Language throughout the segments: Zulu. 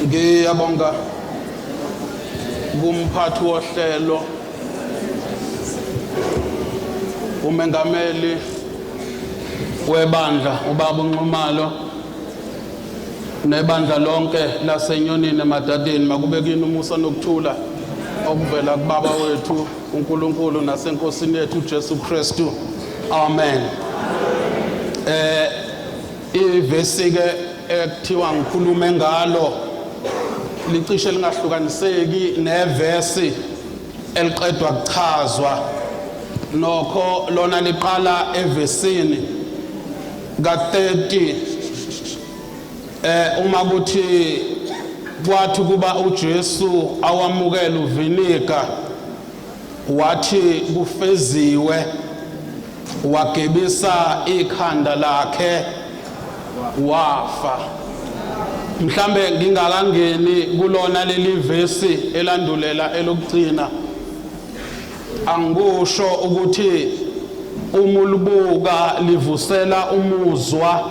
ngiyabonga kumphathi wohlelo umengameli webandla ubaba unxumalo nebandla lonke lasenyonini emadadeni makube kini umusa nokuthula okuvela kubaba wethu uNkulunkulu nasenkosini yethu uJesu Kristu amen eh Ivesi-ke ekuthiwa ngikhulume ngalo licishe lingahlukaniseki nevesi eliqedwa kuchazwa nokho lona liqala evesini ka-30 eh uma kuthi kwathi kuba uJesu awamukela uviniga Wathi kufeziwe wagebisa ikhanda lakhe wafa. Mhlambe ngingakangeni kulona leli vesi elandulela elokugcina. Angikusho ukuthi uma ulibuka livusela umuzwa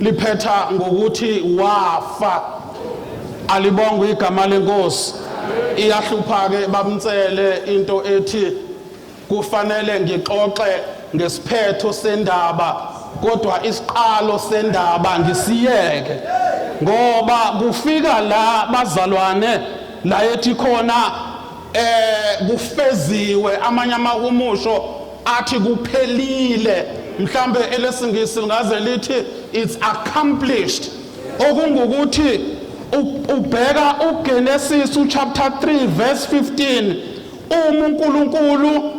liphetha ngokuthi wafa alibongwe igama lenkosi iyahlupha ke bamtsele into ethi kufanele ngixoxe ngesiphetho sendaba kodwa isiqalo sendaba ngisiyeke ngoba kufika la bazalwane la ethi khona eh kufeziwe amanye amahumusho athi kuphelile mhlambe elesingisi lingaze lithi it's accomplished okungukuthi ubheka uGenesis uchapter 3 verse 15 uma uNkulunkulu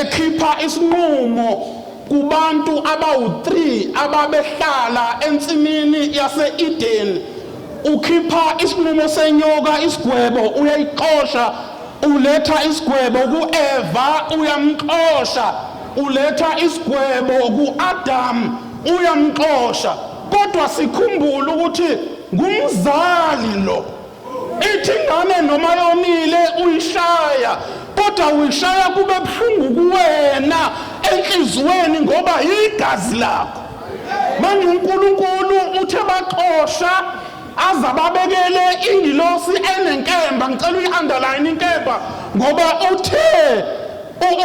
ekhipha isinqumo kubantu abawu3 ababehlala ensimini yaseEden ukhipha isinqumo senyoka isigwebo uyayixosha Uletha isigwebo kuEva uyamxosha, uletha isigwebo kuAdam uyamxosha. Kodwa sikhumbule ukuthi ngumzali lo. Ithi ingane noma yonile uyishaya kodwa uyishaya kube buhlungu kuwena enhliziyweni ngoba yigazi lakho. Manje uNkulunkulu uthe baxosha azababekele ingilosi enenkemba ngicela uyi-underline inkemba ngoba uthe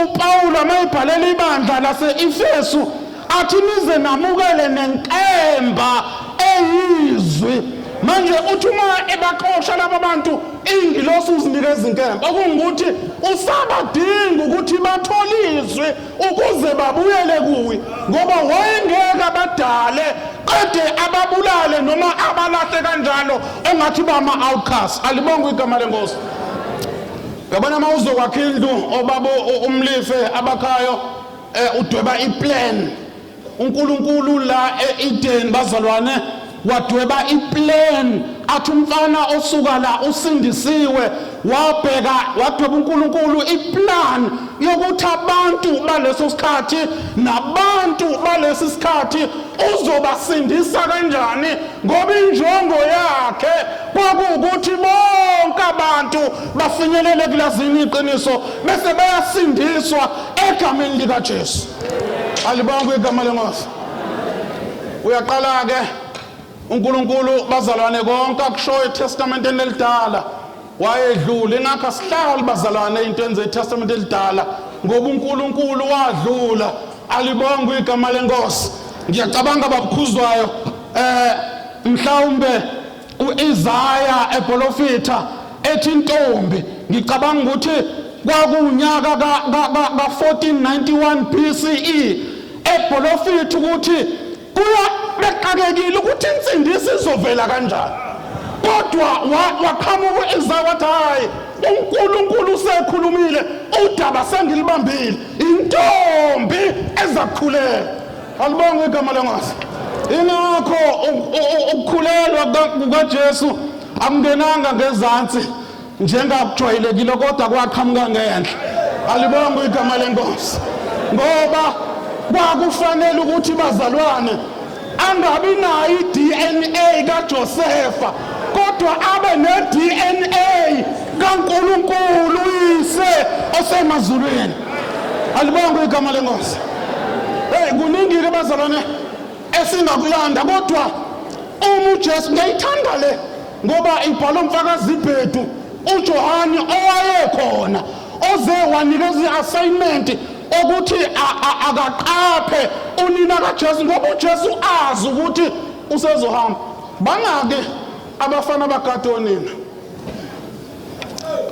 upawula mayibhalela ibandla lase-efesu athi nize namukele nenkemba eyizwi manje uthi uma ebaxosha laba bantu ingilosi uzinikeza inkemba okungukuthi usabadinga ukuthi bathole izwi ukuze babuyele kuye ngoba wayengeke abadale qede ababulale noma abalahle kanjalo engathi bama-outcast alibonge igama lenkosi yabona uma uzokwakha indlu obaba umlife abakhayo um udweba iplan uNkulunkulu la e-Eden bazalwane wadweba iplan athi umfana osuka la usindisiwe wabheka wadweba uNkulunkulu iplan yokuthi abantu baleso sikhathi nabantu balesi sikhathi uzobasindisa kanjani ngoba injongo yakhe kwakuwukuthi bonke abantu bafinyelele kulazini iqiniso bese bayasindiswa egameni likaJesu alibongwe igama lenkosi uyaqala ke uNkulunkulu bazalwane konke akushoyo eTestamenteni elidala wayedlula ingakho asihlali bazalwane into enze iTestamente elidala ngoba uNkulunkulu wadlula alibongwe igama lenkosi ngiyacabanga babukhuzwayo eh mhlawumbe U-Isaya ebolofitha ethi intombi ngicabanga ukuthi kwakuwunyaka ka-1491 BCE ebholofitha ukuthi kuya bexakekile ukuthi insindisi izovela kanjani kodwa waqhamuka u-Isaya wathi hhayi uNkulunkulu usekhulumile udaba sengilibambile intombi ezakukhuleka Alibonge igama lengosi. Ingakho ukukhulelwa kukaJesu akungenanga ngezansi njengakujwayelekile kodwa kwaqhamuka ngenhla. Alibonge igama lenkosi. Ngoba kwakufanele ukuthi bazalwane angabi nayo i-DNA kaJosefa kodwa abe ne-DNA kaNkulunkulu uyise osemazulwini. alibongwe igama lenkosi hey kuningile bazalwane esingakulanda kodwa uma uJesu ngiyayithanda le ngoba ibhala umfakazi ibhedu uJohane owayekhona oze wanikeza i-assignment okuthi akaqaphe unina kaJesu ngoba uJesu azi ukuthi usezohamba bangake abafana bakade onina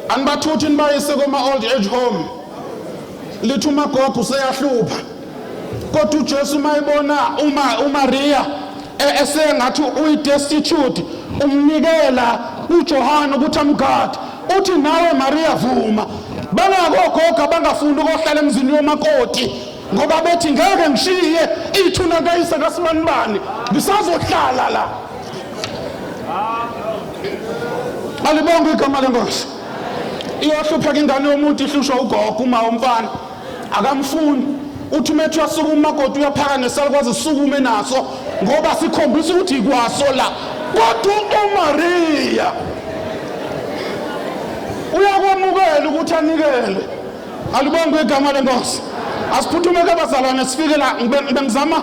anibathuthi nibayise koma-old age home lithi umagogo useyahlupha kodwa ujesu uma ebona umariya e-, esengathi uyidestitute umnikela ujohane ukuthi amgade uthi nawe mariya vuma bangakogogo abangafuni ukohlala emzini yomakoti ngoba bethi ngeke ngishiye ithuna kayise kasibanibani ngisazohlala la alibonge igama lenkosi iyohlupheka ingane yomuntu ihlushwa ugogo uma umfana akamfuni uthi uma ethiwa suka umakoti uyaphaka nesalukwazi sukume naso ngoba sikhombisa ukuthi ikwaso la kodwa umariya uyakwamukela ukuthi anikele alibonge igama lenkosi asiphuthume kabazalwane sifike la ngibengizama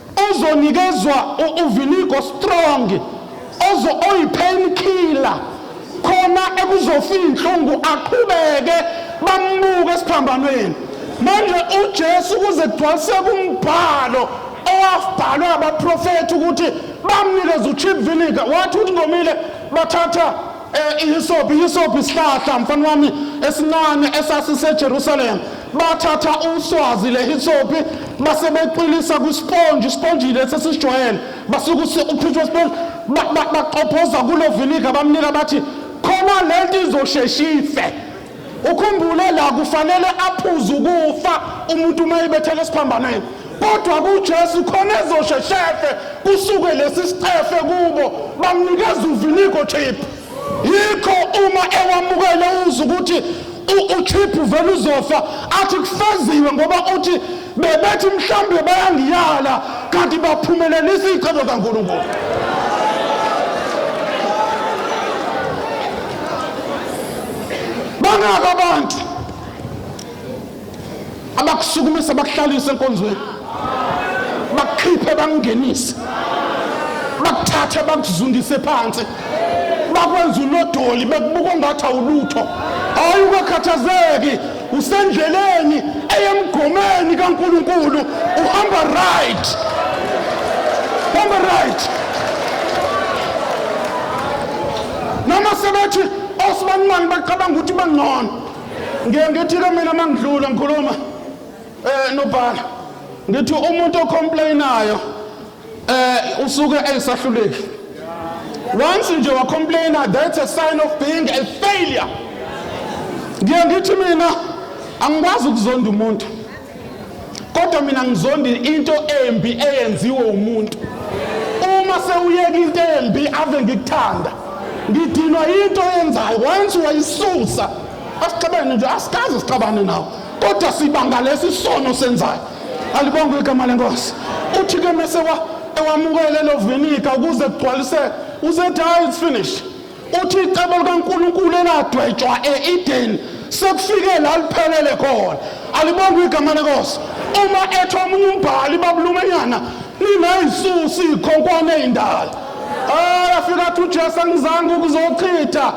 Uzonikezwa uvinigo strong ozo oyipain killer khona ekuzofika inhlungu aqhubeke bambuke esiphambanweni. Manje uJesu kuze kugcwaliseke umbhalo owabhalwa abaprofethi ukuthi bamnikeza ucheap vinegar wathi ukuthi ngomile bathatha Eh, ihisopi ihisopi isihlahla mfana wami esincane esasisejerusalem bathatha uswazi le hisopi base beqilisa kwisponji isponji lesi esisijwayele basuke usi- ukhutshwa isponji ba- ba- baqophoza kulo vinika bamnika bathi khona lento izosheshife Ukhumbule la kufanele aphuze ukufa umuntu uma ebethela esiphambanweni. Kodwa kuJesu khona ezosheshefe kusuke lesi sicefe kubo bamnikeza uviniko chip. Yikho uma ewamukele uza ukuthi uchip vele uzofa athi kufeziwe ngoba uthi bebethi mhlawumbe bayangiyala kanti baphumelelisa iy'cebo kankulunkulu bangaka abantu abakusukumisa bakuhlalise enkonzweni bakukhiphe bakungenise bakuthathe bakuzundise phansi bakwenza unodoli bekubuka ongathi awulutho hayi ungakhathazeki usendleleni eyemgomeni kaNkulunkulu uhamba right hamba right noma sebethi osibanimani bacabanga ukuthi bangcono ngiye ngithike mina uma ngidlula ngikhuluma um nobhala ngithi umuntu ocomplainayo eh usuke eyisahluleki once nje wa complainer that's a sign of being a failure ngiye ngithi mina angikwazi ukuzonda umuntu kodwa mina ngizondi into embi eyenziwe umuntu uma sewuyeka into embi ave ngikuthanda ngidinwa into eyenzayo once wayisusa asixabene nje asikaze sixabane nawo kodwa sibanga lesi sono senzayo alibongwe igama lenkosi uthi ke mase ewamukele lo vinika ukuze kugcwalise usethi hayi it's finished uthi icebo likaNkulunkulu eladwetshwa eEden sekufike la liphelele khona alibongwe igama lenkosi uma ethi omunye umbhali babulumenyana ninayisusi ikhonkwane indala ayafika athi uJesu angizange ukuzochitha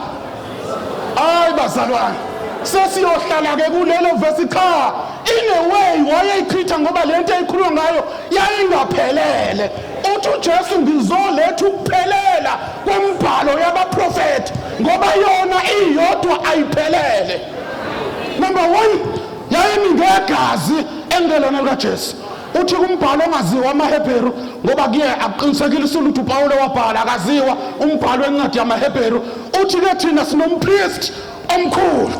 hayi bazalwane sesiyohlala-ke kulelo vesi cha in a way wayeyichitha ngoba le nto eyikhuluma ngayo yayingaphelele uthi ujesu ngizoletha ukuphelela kwembhalo yabaprofethi ngoba yona iyodwa ayiphelele number one yayimi ngegazi engelona likajesu uthi kumbhalo ongaziwa amaHebheru ngoba kuye akuqinisekile usuluthu uPawulu wabhala akaziwa umbhalo wencwadi yamaHebheru uthi ke thina sinompriest omkhulu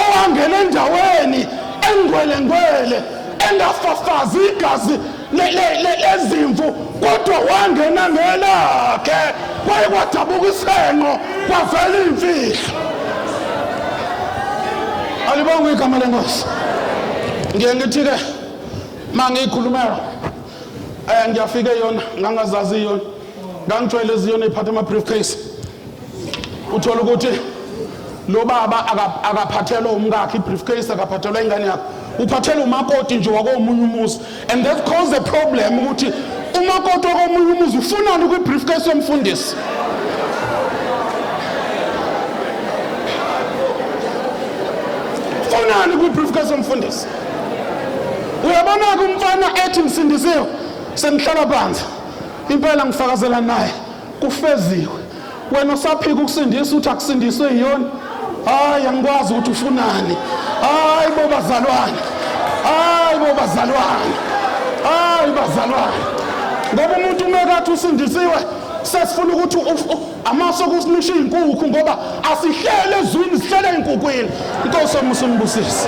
owangena endaweni engwelengwele engafafazi igazi lezimvu kodwa wangena ngelakhe kwaye kwadabuka isenqo kwavela iimfihlo alibonga igama lenkosi ngiye ngithi ke ma ngiyikhulumela um ngiyafike yona ngangazazi yona ngangijwayele ziyona iphatha ama-brief case uthola ukuthi lo baba akaphathelwa umkakhe i-briefcase akaphathelwa ingane yakhe uphathelwa umakoti nje wakomunye umuzi and that cause the problem ukuthi umakoti wakomunye umuzi ufunani kwi-briefcase yomfundisi ufunani kwi-briefcase yomfundisi uyabona-ke umfana ethi ngisindisiwe sengihlala phansi impela ngifakazela naye kufeziwe wena usaphika ukusindisa uthi akusindiswe yiyona hayi angikwazi ukuthi ufunani hayi bo bazalwane hayi bo bazalwane hayi bazalwane ngoba umuntu umekathi usindisiwe sesifuna ukuthi amaso kusinisha iy'nkukhu ngoba asihlele ezwini sihlele ey'nkukwini inkosi omusa umbusise